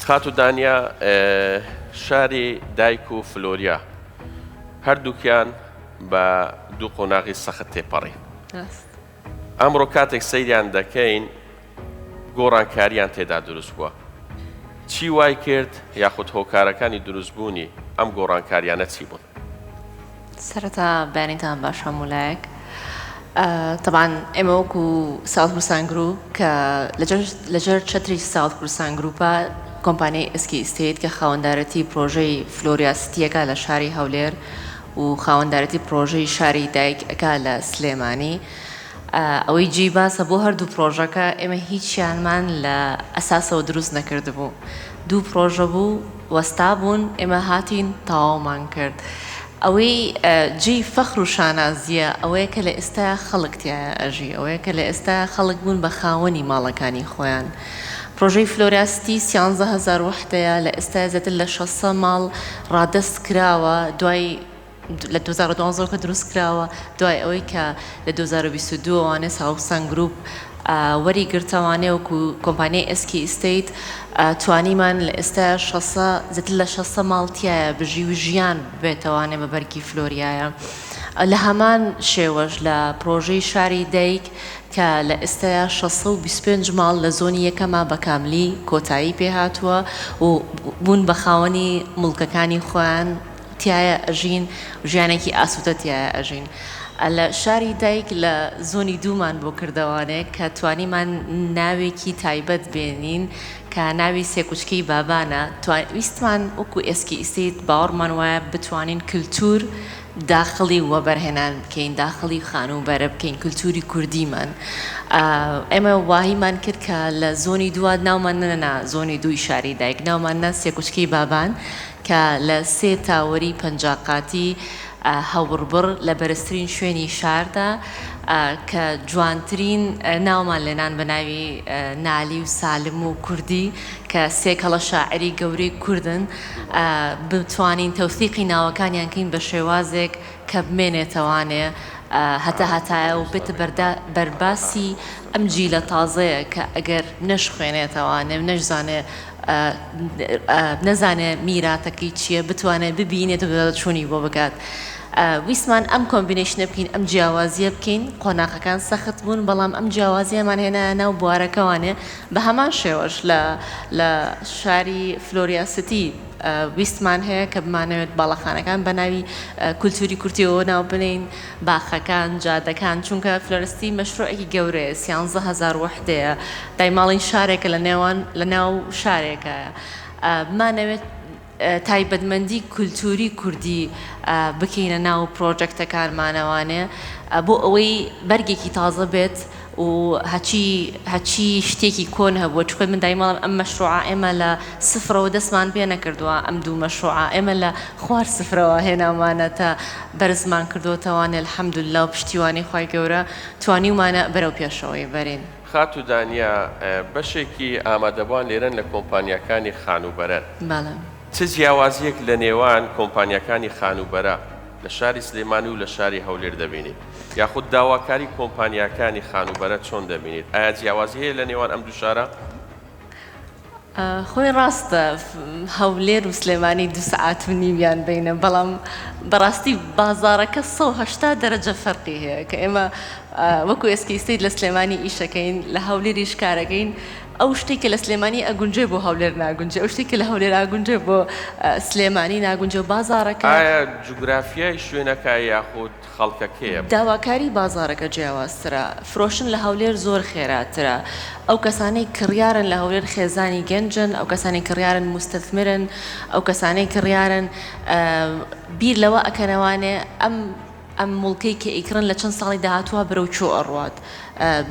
خاتو دانیا شاری دایک و فلۆریا هەردووکیان بە دوو قۆناغی سەخت تێپەڕی ئەمڕۆ کاتێک سەیریان دەکەین گۆڕانکاریان تێدا دروست بووە چی وای کرد یاخود هۆکارەکانی دروستبوونی ئەم گۆڕانکاریانە چی بوون سەرەتا بەیانیتان باش هەموو لایەک تەبان ئێمە وەکو ساوت کوردستان گروپ کە لەجەر چەتری ساوت کوردستان گروپە کۆمپانیای ئسکی ئیستیت کە خاوەندارەتی پرۆژەی فلۆریا ستیەکە لە شاری هەولێر و خاوەندارەتی پرۆژەی شاری دایک ئەکا لە سلێمانی ئەوەی جێی باسە بۆ هەردوو پرۆژەکە ئێمە هیچیانمان لە ئەساسەوە دروست نەکردبوو دوو پرۆژە بوو وەستابوون ئێمە هاتین تەواومان کرد ئەوەی جێی فەخر و شانازییە ئەوەیە کە لە ئێستایا خەڵک تیایا ئەژی ئەوەیە کە لە ئێستایا خەڵک بوون بە خاوەنی ماڵەکانی خۆیان پرۆژەی فلۆرا ستی سیانزە هەزار وەحدەیە لە ئێستایا زیاتر لە شەسە ماڵ ڕادەست کراوە دوای لە دوو هەزار و دوازدە کە دروست کراوە دوای ئەوەی کە لە دوو هەزار و بیست و دوو وانێ ساوسەن گروپ وەری گرتەوانێ وەکو کۆمپانیای ئێسکی ئیستەیت توانیمان لە ئێستایا شەسە زیاتر لە شەسە ماڵ تیایە بژی و ژیان بێتەوانێ بە بەرگی فلۆریایە لە هەمان شێوەش لە پرۆژەی شاری دایک کە لە ئێستایا شەسە و بیست و پێنج ماڵ لە زۆنی یەکەما بە کاملی کۆتایی پێ هاتووە و بوون بە خاوەنی موڵکەکانی خۆیان تیایە ئەژین و ژیانێکی ئاسوودە تیایە ئەژین. لە شاری دایک لە زۆنی دوومان بۆ کردەوانێک کە توانیمان ناوێکی تایبەت بێنین کە ناوی سێکوچکەی بابانە، ویستمان وەکو ئێسکی ئیستەیت باوەڕمان وایە بتوانین کلتوور داخڵی وەبەرهێنان بکەین، داخڵی خانووبەرە بکەین کلتووری کوردیمان. ئێمە واهیمان کرد کە لە زۆنی دووا ناومان نەنا زۆنی دووی شاری دایک، ناومان نا سێکوچکەی بابان، کە لە سێ تاوەری پەنجا قاتی هەوڕبڕ لە بەرزترین شوێنی شاردا کە جوانترین ناومان لێنان بە ناوی نالی و سالم و کوردی کە سێ کەڵە شاعری گەورەی کوردن بتوانین تەوسیقی ناوەکانیان کەین بە شێوازێک کە بمێنێتەوانێ هەتا هەتایە و بێتە بەرباسی ئەم جیلە تازەیە کە ئەگەر نەشخوێنێتەوانێ و نەشزانێ نەزانێ میراتەکەی چیە بتوانێ ببینێت و بەدواداچونی بۆ بکات ویستمان ئەم کۆمبینەیشنە بکەین ئەم جیاوازیە بکەین قۆناخەکان سەخت بوون بەڵام ئەم جیاوازیەمان هێنایە ناو بوارەکەوانێ بەهەمان شێوەش لە لە شاری فلۆریا سیتی ویستمان هەیە کە بمانەوێت باڵەخانەکان بەناوی کولتوری کورتیەوە ناو بنێین باخەکان، جادەکان، چونکە فلۆرستی مەشروعێکی گەورەیە، سیانزە هەزار وەحدەیە، دایماڵین شارێکە لە نێوان لە ناو شارێکە، بمانەوێت تایبەتمەندی کولتووری کوردی بکەینە ناو پرۆژەکتەکانمانەوانێ بۆ ئەوەی بەرگێکی تازە بێت و هەچی هەچی شتێکی کۆن هەبووە چونکە من دایمە ڵێم ئەم مەشروعە ئێمە لە سفرەوە دەستمان پێ نەکردووە ئەم دوو مەشروعە ئێمە لە خوار سفرەوە هێنامانەتە بەرزمان کردۆتەوانێ الحمداللە و پشتیوانی خوای گەورە توانیومانە بەرەو پێشەوەی بەرین. خاتوو دانیە بەشێکی ئامادەبوان لێرەن لە کۆمپانیاکانی خانووبەرەن بەڵێ. چ جیاوازیەک لە نێوان کۆمپانیاکانی خانووبەرە لە شاری سلێمانی و لە شاری هەولێر دەبینیت؟ یاخود داواکاری کۆمپانیاکانی خانووبەرە چۆن دەبینیت؟ ئایا جیاوازی هەیە لە نێوان ئەم دوو شارە؟ خۆی ڕاستە هەولێر و سلێمانی دوو سەعات و نیویان بەینە، بەڵام بەڕاستی بازاڕەکە سەد و هەشتا دەرەجە فەرقی هەیە، کە ئێمە وەکو ئێسکیستەیت لە سلێمانی ئیشەکەین، لە هەولێریش کارەکەین، ئەو شتەی کە لە سلێمانی ئەگونجێ بۆ هەولێر ناگونجێ ئەو شتەی کە لە هەولێر ئاگونجێ بۆ سلێمانی ناگونجێ و بازاڕەکە. ئایا جوگرافیای شوێنەکە یاخود خەڵکەکەیە؟ داواکاری بازاڕەکە جیاوازترە فرۆشتن لە هەولێر زۆر خێراترە ئەو کەسانەی کڕیارن لە هەولێر خێزانی گەنجن ئەو کەسانی کڕیارن موستەثمرن ئەو کەسانەی کڕیارن بیر لەوە ئەکەنەوانێ ئەم ئەم موڵکەی کە ئیکڕن لە چەند ساڵی داهاتووە بەرەو چۆ ئەڕوات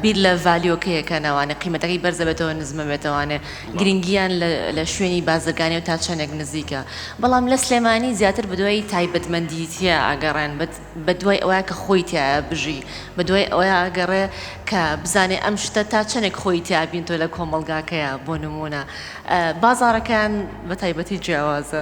بیر لە ڤالیۆکەی ئەکەن ئەوانێ قیمەتەکەی بەرزە بێتەوە نزمە بێت ئەوانێ گرینگیان لە شوێنی بازرگانی و تا چەندێک نزیکە بەڵام لە سلێمانی زیاتر بەدوای تایبەتمەندی تیا ئەگەڕێن بەدوای ئەوەیە کە خۆی تیایا بژی بەدوای ئەوەیە ئەگەڕێ کە بزانێ ئەم شتە تا چەندێک خۆی تیا بینتۆ لە کۆمەڵگاکەیا بۆ نموونە بازاڕەکەیان بە تایبەتی جیاوازە.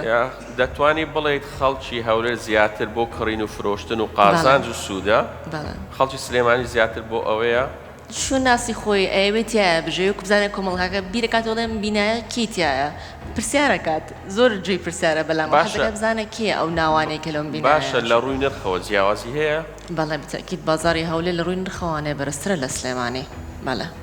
دەتوانی بڵێیت خەڵکی هەولێر زیاتر بۆ کڕین و فرۆشتن و قازانج و سوودە؟ بەڵێ. خەڵکی سلێمانی زیاتر بۆ ئەوەیە؟ شوناسی خۆی ئەیەوێت تیایە بژێوی وەکو بزانێت کۆمەڵگاکە بیرەکاتەوە دەڵێ ئەم بینایە کێی تیایە پرسیارەکات زۆر جێی پرسیارە بەلام باشە حەزەکات بزانێت کێیە ئەو ناوانەی کە لەم بینایە باشە لە ڕووی نرخەوە جیاوازی هەیە؟ بەڵێ بتەئکید بازاڕی هەولێر لە ڕووی نرخەوانێ بەرزترە لە سلێمانی بەڵێ.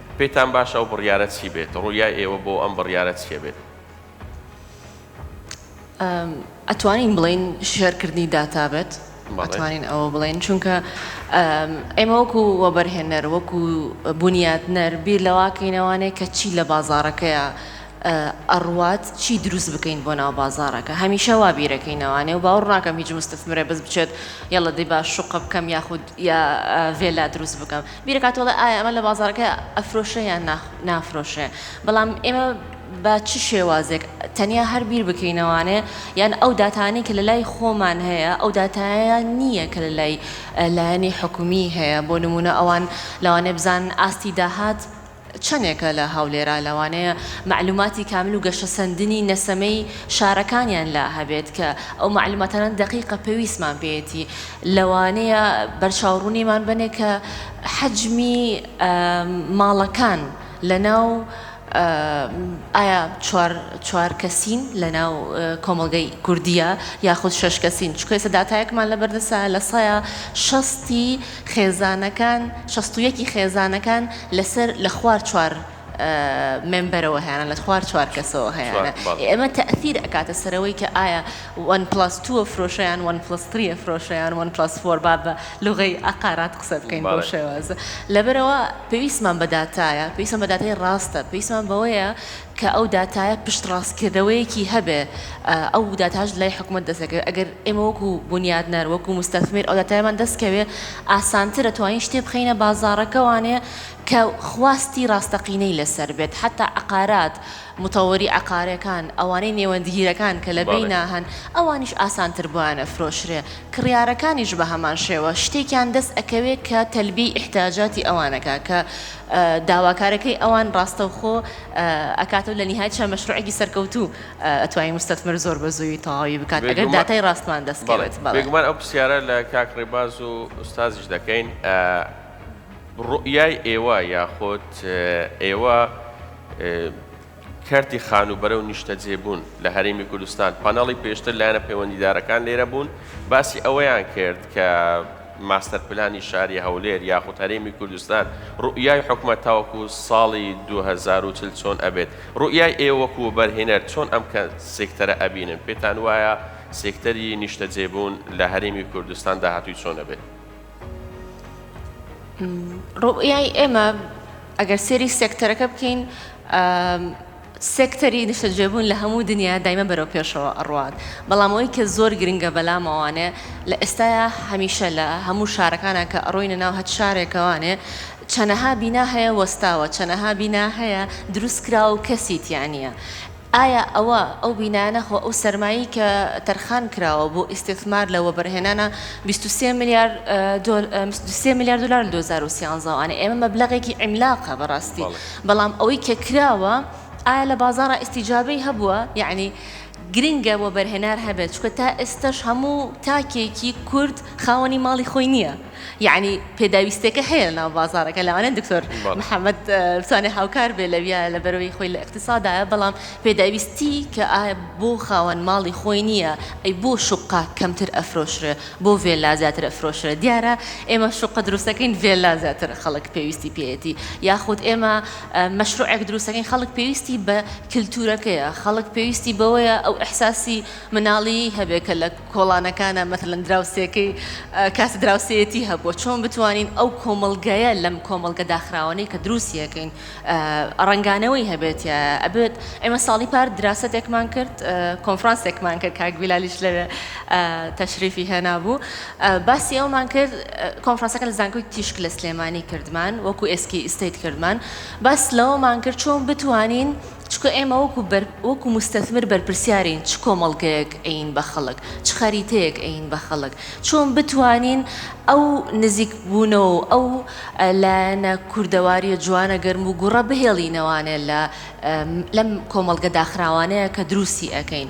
پێتان باشە ئەو بڕیارە چی بێت؟ ڕویای ئێوە بۆ ئەم بڕیارە چیە بێت؟ ئەتوانین بڵێین شێر کردنی داتا بێت ئەتوانین ئەوە بڵێن چونکە ئێمە وەکو وەبەرهێنەر وەکو بنیاتنەر بیر لەواکەینەوانەیە کە چی لە بازارەکەیە ئەڕوات چی دروست بکەین بۆ ناو بازارەکە هەمیشە وا بیرەکەینەوانێ و باوڕ ناکەم هیچ مستەفمرە بەس بچێت یاڵە دەی باش شوقە بکەم یاخود یا ڤێلا دروست بکەم بیرەکاتەوە ئەڵێ ئایا ئەمە لە بازاڕەکە ئەفرۆشرێ یان نا نافرۆشرێ بەڵام ئێمە بە چ شێوازێک تەنیا هەر بیر بکەینەوانێ یان ئەو داتانەی کە لە لای خۆمان هەیە ئەو داتایە نییە کە لە لای لایەنی حکومی هەیە بۆ نمونە ئەوان لەوانێ بزان ئاستی داهات چەنێکە لە هەولێرا لەوانەیە مەعلوماتی کامل و گەشەسەندنی نەسەمەی شارەکانیان لا هەبێت کە ئەو مەعلوماتانە دەقیقە پێویستمان پێیەتی لەوانەیە بەرچاو ڕوونیمان بەنێ کە حەجمی ماڵەکان لەناو ئایا چوار چوار کەسین لەناو کۆمەڵگەی کوردیە یاخود شەش کەسین چکە ئێستا داتایەکمان لەبەردەسە لە سەیا شەستی خێزانەکان شەست و یەک ی خێزانەکان لەسەر لە خوار چوار مێمبەرەوە هەیانە لە خوار چوار کەسەوە هەیانە ئێمە تەئثیر ئەکاتە سەرەوەی کە ئایا وەن پڵاس تووە فرۆشەیان وەن پڵس تریە فرۆشەیان وەن پڵاس فۆر با بە لوغەی ئەقارات قسە بکەین بەو شێوازە لەبەرەوە پێویستمان بە داتایە پێویستمان بە داتای ڕاستە پێویستمان بەوەیە کە ئەو داتایە پشتڕاستکردنەوەیەکی هەبێ، ئەو داتاش لای حکومەت دەستەکەوێ، ئەگەر ئێمە وەکو بونیادنەر، وەکو موستەثمیر ئەو داتایەمان دەستکەوێ، ئاسانترە توانین شتێ بخەینە بازاڕەکە وانەیە کە خواستی ڕاستەقینەی لەسەر بێت، حەتا عەقارات، مطوری عقارەکان، ئەوانەی نێوەندگیرەکان کە لە بینا هەن، ئەوانیش ئاسانتر بۆیان ئەفرۆشرێ، کڕیارەکانیش بە هەمان شێوە، شتێکیان دەست ئەکەوێ کە تەلبیەی ئیحتیاجاتی ئەوان ئەکا، کە داواکارەکەی ئەوان ڕاستەوخۆ ئەکاتەو لە نیهایەت شا مەشروعێکی سەرکەوتوو ئەتوانی مستەتمر زۆر بە زووی تەواوی بکات ئەگەر داتای ڕاستمان دەست کەوێت بەڵێ. بێگومان ئەو پرسیارە لە کاک ڕێباز و ئوستازیش دەکەین ڕوئیای ئێوە یاخود ئێوە کەرتی خانووبەرە و نیشتەجێبوون لە هەرێمی کوردستان، پانێڵی پێشتر لایەنە پەیوەندیدارەکان لێرە بوون، باسی ئەوەیان کرد کە ماستەرپلانی شاری هەولێر یاخود هەرێمی کوردستان روئیای حکومەت تاوەکو ساڵی دوو هەزار و چل چۆن ئەبێت؟ روئیای ئێوە وەکو وەبەرهێنەر چۆن ئەم سێکتەرە ئەبینن؟ پێتان وایە سێکتەری نیشتەجێبوون لە هەرێمی کوردستان داهاتووی چۆن ئەبێت؟ ڕوئیای ئێمە ئەگەر سێری سێکتەرەکە بکەین سێکتەری نیشتەجێبوون لە هەموو دنیا دایمە بەرەو پێشەوە ئەڕوات بەڵام ئەوی کە زۆر گرنگە بەلامەوانێ لە ئێستاە هەمیشە لە هەموو شارەکانە کە ئەڕۆینە ناو هەت شارێکەوانێ چەنەها بینا هەیە وەستاوە چەنەها بینا هەیە دروستکراوە و کەسیتیانە ئایا ئەوە ئەو بینایانە خۆ ئەو سەرمایەی کە تەرخان کراوە بۆ ئیستثمار لە وەبەرهێنانە بیست و سێ ملیار دۆل بیست و سێ ملیار دۆلار لە دوو هەزار و سیانزە وانە ئێمە مەبلەغێکی عیملاقە بەڕاستی بەڵام ئەوەی کە کراوە ئایا لە بازاڕا ئیستیجابەی هەبووە یەعنی گرنگە وەبەرهێنار هەبێت چونکە تا ئێستەش هەموو تاکێکی کورد خاوەنی ماڵی خۆی نییە. یەعنی پێداویستێکە هەیە لە ناو بازاڕەکە لەوانەیە دکتۆر محمد بتوانێت هاوکار بێ لەویا لە بەرەوەی خۆی لە اقتصادایە بەڵام پێداویستی کە ئا بۆ خاوەن ماڵی خۆی نییە ئەی بۆ شوققە کەمتر ئەفرۆشرێ بۆ ڤێلا زیاتر ئەفرۆشرێ دیارە ئێمە شوققە دروستەکەین ڤێلا زیاتر خەڵک پێویستی پێیەتی یاخود ئێمە مەشروعێک دروستەکەین خەڵک پێویستی بە کلتورەکەیە خەڵک پێویستی بەوەیە ئەو احساسی مناڵیی هەبێ کە لە کۆڵانەکانە مەسەلەن دراوسێکەی کاس دراوسێیەتی هەبووە چۆن بتوانین ئەو کۆمەڵگەیە لەم کۆمەڵگە داخراوانەی کە دروستیەکەین ڕەنگانەوەی هەبێتیایە ئەبێت ئێمە ساڵی پار دراستێکمان کرد کۆنفرانسێکمان کرد کاک بیلالیش لەوێ تەشریفی هێنا بوو باسی ئەومان کرد کۆنفرانسەکە لە زانکۆی تیشک لە سلێمانی کردمان وەکو ئێسکی ئیستیت کردمان باس لەوەمان کرد چۆن بتوانین چکە ئێمە وەکو بەر وەکو موستەثمر بەرپرسیارین چ کۆمەڵگەیەک ئەیین بە خەڵک چ خەریتەیەک ئەیین بە خەڵک چۆن بتوانین ئەو نزیک بوونەوە و ئەو لایەنە کوردەواریە جوانە گەرم و گوڕە بهێڵینەوانێ لە لەم کۆمەڵگە داخراوانەیە کە دروستی ئەکەین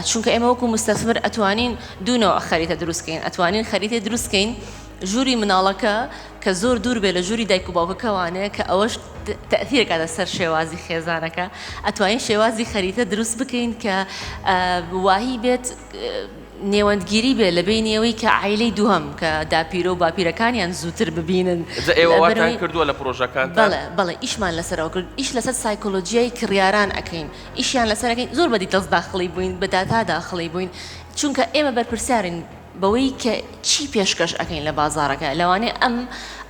چونکە ئێمە وەکو موستەثمر ئەتوانین دوو نەوع خەریتە دروست کەین ئەتوانین خەریتەی دروست کەین ژووری مناڵەکە کە زۆر دوور بێ لە ژووری دایک و باوکەکە وانەیە کە ئەوەش تەئثیر ئەکاتە سەر شێوازی خێزانەکە ئەتوانین شێوازی خەریتە دروست بکەین کە واهی بێت نێوەندگیری بێ لە بینی ئەوەی کە عیلەی دووهم کە داپیرە و باپیرەکانیان زووتر ببینن ئێوەواتان کردووە لە پرۆژەکان بەڵێ ئیشمان لەسەرەوە کرد ئیش لەسەر سایکۆلۆژیای کڕیاران ئەەکەین ئیشیان لەسەرەکەین زۆر بەدی تەز داخڵی بووین بە داتا داخڵی بووین چونکە ئێمە بەرپرسیارین بەوەی کە چی پێشکەش ئەکەین لە بازاڕەکە لەوانەیە ئەم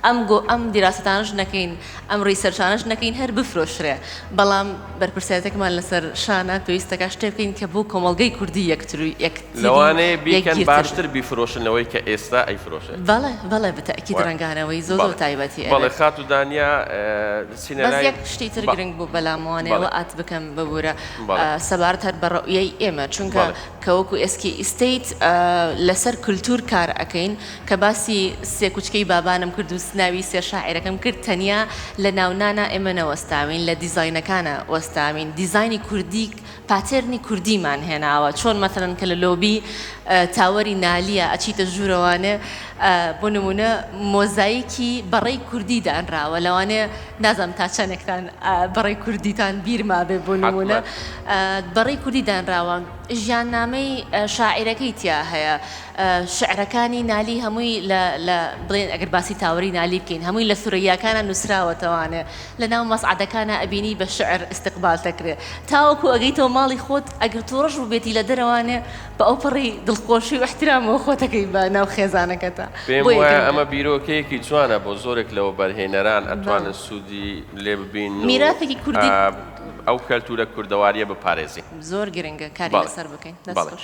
ئەم گۆ ئەم دیراسەتانەش نەکەین ئەم ڕیسەرچانەش نەکەین هەر بفرۆشرێ بەڵام بەرپرسیارەتێکمان لەسەر شانە پێویستەکە شتێ بکەین کە بۆ کۆمەڵگەی کوردی یەکتر و یەکتری لەوانەیە بیکەن باشتر بیفرۆشن لەوەی کە ئێستا ئەیفرۆشێ. بەڵێ بەڵێ بەتەئکید ڕەنگانەوەی زۆ زۆر تایبەتی ئەبێت. بەڵێ خاتوو دانیا سینەلای. بەس یەک شتی تر گرنگ بوو بەلام وانەیە وە ئات بکەم ببورە سەبارەت هەر بە ڕۆیەی ئێمە چونکە کە وەکو ئێسکی ئیستەیت لەسەر کولتوور کار ئەکەین کە باسی سێ کوچکەی بابانم کرد و ناوی سێ شاعیرەکەم کرد تەنیا لە ناونانا ئێمە نەوەستاوین لە دیزاینەکانا وەستاوین دیزاینی کوردی پاتێرنی کوردیمان هێناوە چۆن مەسەلەن کە لە لۆبی تاوەری نالیە ئەچیتە ژوورەوانێ بۆ نمونە مۆزایکی بەڕەی کوردی دانراوە لەوانێ نازانم تا چەنێکتان بەڕەی کوردیتان بیر مابێ بۆ نمونە بەڕەی کوردی دانراوە ژیان نامەی شاعیرەکەی تیا هەیە شعرەکانی نالی هەمووی لە بڵێن ئەگەر باسی تاوەری نالی بکەین هەمووی لە سوریاکانە نووسراوەتەوانێ لە ناو مەسعادەکانە ئەبینی بە شعر استقبال دەکرێت تاوەکو ئەگەیتەوە ماڵی خۆت ئەگەر تۆڕش بووبێتی لە دەرەوانێ بە ئەوپەڕی دڵخۆشی و احترامەوە خۆتەکەی بە ناو خێزانەکەتە پێم بۆ وایە یەکەم ئەمە بیرۆکەیەکی جوانە بۆ زۆرێک لە وەبەرهێنەران ئەتوانن بەڵێ. سوودی لێ ببین و میراتێکی کوردی ئا ئەو کەلتوورە کوردەوارییە بپارێزین. زۆر گرنگە کاری بەڵێ لەسەر بکەین دەست بەڵێ. خۆش.